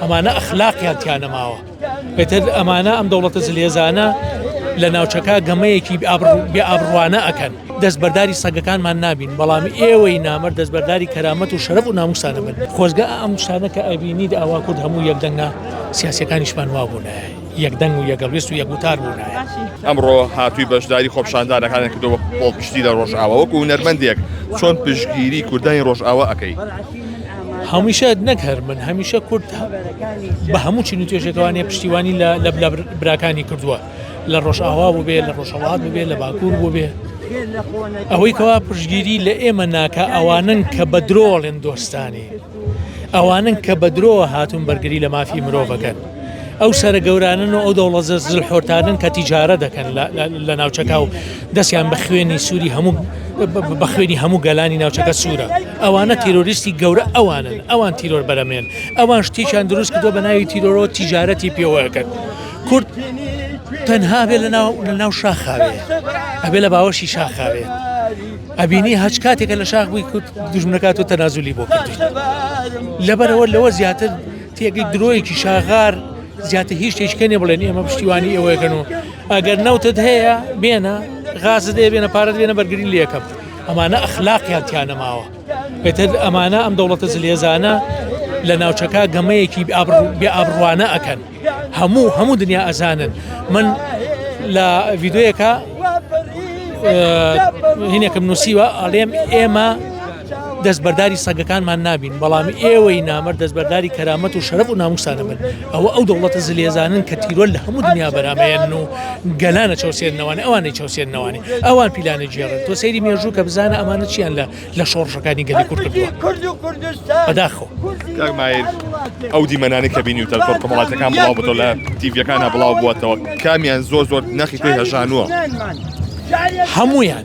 ئەمانە ئەخلاقیان تیا نەماوە ئیتر ئەمانە ئەم دەوڵەتە زلێزانە لە ناوچەکە گەمەیەکی بێ ئابڕوانە ئەکەن دەستبەرداری سەگەکانمان نابین بەڵام ئێوەی نامەر دەستبەرداری کەرامەت و شەرف و ناموسانە بن خۆزگە ئەم شتانەکە ئەبینید ئاوا کورد هەموو یەکدەنگە سیاسەکانیشمان وابوونایە یەکدەنگ و یەگەڵویست و یەکوتار بوون ئەمڕۆ هاتووی بەشداری خۆپشاندانەکانێک کردەوە خۆڵپشتی لە ڕۆژئاوەوەکو نەرمەندێک چۆن پشگیری کوردانی ڕۆژئاوا ئەەکەی هەمیشە نەک هەر من هەمیشە کورد بە هەموو چین و توێژەکەوانێ پشتیوانی لە لە براکانی کردووە لە ڕۆژئاوا بوو بێ لە ڕۆژهڵات بوو بێ لە باکوور بوو بێ ئەوەی کەوا پشگیری لە ئێمە ناکە ئەوانن کە بە درۆڵێن دۆستانی ئەوانن کە بە درۆ هاتوون بەرگری لە مافی مرۆڤەکەن. ئەو سەرە گەورانن و ئەو دەوڵە زلحۆرتانن کە تیجارە دەکەن لە ناوچەکە و دەستیان بە خوێنی سووری هەموو بە خوێنی هەموو گەلانی ناوچەکە سوورە ئەوانە تیرۆریستی گەورە ئەوانن ئەوان تیرۆر بەرەمێن ئەوان شتێکیان دروست کردو بە ناوی تیرۆرەوە تیجارەتی پێوەکەن کورد تەنها بێ لە ناو لە ناو شاخاوێ ئەبێ لە باوەشی شاخاوێ ئەبینی هەچ کاتێکە لە شاخ بووی کورد دژمنەکات و تەنازولی بۆ لەبەرەوە لەوە زیاتر تێگەی درۆیەکی شاغار زیاتر هیچ شتێکە نیە بڵێن ئێمە پشتیوانی ئەوەیەکەن و ئەگەر نەوتت هەیە بێنە غازت دێ بێنە پارەت بێنە بەرگری لەکەم ئەمانە ئەخلاقیان تیانەماوە بێتر ئەمانە ئەم دەوڵەتە زلێزانە لە ناوچەکە گەمەیەکی بێ ئابڕوانە ئەکەن هەموو هەموو دنیا ئەزانن من لە ڤیددیوەکە هینێکم نووسیوە ئەڵێم ئێمە دەستبەرداری سەگەکانمان نابین، بەڵام ئێوەی نامەرد دەستبەرداری کەرامەت و شەرەف و نامووستان ئەبن، ئەوە ئەو دەوڵەتە زلێزانەن کە تیرۆر لە هەموو دنیا بەرامەیەنن و گەلان ئەچەوسێننەوانێ، ئەوان ئەیچەوسێننەوانێ، ئەوان پیلان ئەگێڕن، تۆ سەیری مێژوو کە بزانە ئەمانە چیان لە لە شۆڕشەکانی گەلی کورد کردووە. بەداخەوە. کاک مایر ئەو دیمەنانەی کە بینیوتە لە تۆڕ کۆمەڵاتیەکان بڵاو بۆتەوە لە تیڤیەکانا بڵاو بۆتەوە کامیان زۆر زۆر نەخی تۆی هەژانووە؟ هەموویان.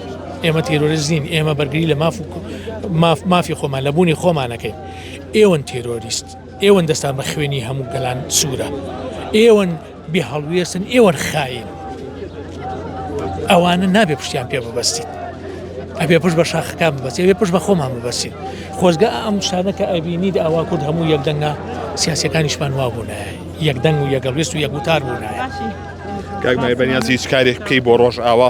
ئێمە تیرۆریست نین ئێمە بەرگری لە ماف ماف مافی خۆمان لە بوونی خۆمانەکەین ئێوەن تیرۆریست ئێوەن دەستان بە خوێنی هەموو گەلان سوورە ئێوەن بێ هەڵوێستن ئێوەن خاین ئەوانە نابێ پشتیان پێ ببەستیت ئەبێ پشت بە شاخەکان ببەست ئەبێ پشت بە خۆمان ببەسین خۆزگە ئەم شانە کە ئەبینیت ئاوا کورد هەموو یەکدەنگە سیاسەکانیشمان وا بوون یەکدەنگ و یەگەڵوێست و یەکوتار بوون کاک مای بەنیازی هیچ کارێک بکەی بۆ ڕۆژ ئاوا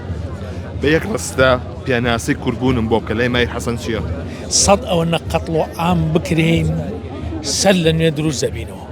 بە یەک ڕستە پێناسی کوردبوونم بۆ بکە لای مای حەسەن چییە سەد ئەوە نە قەتڵ و ئام بکرین سەر لە نوێ دروست دەبینەوە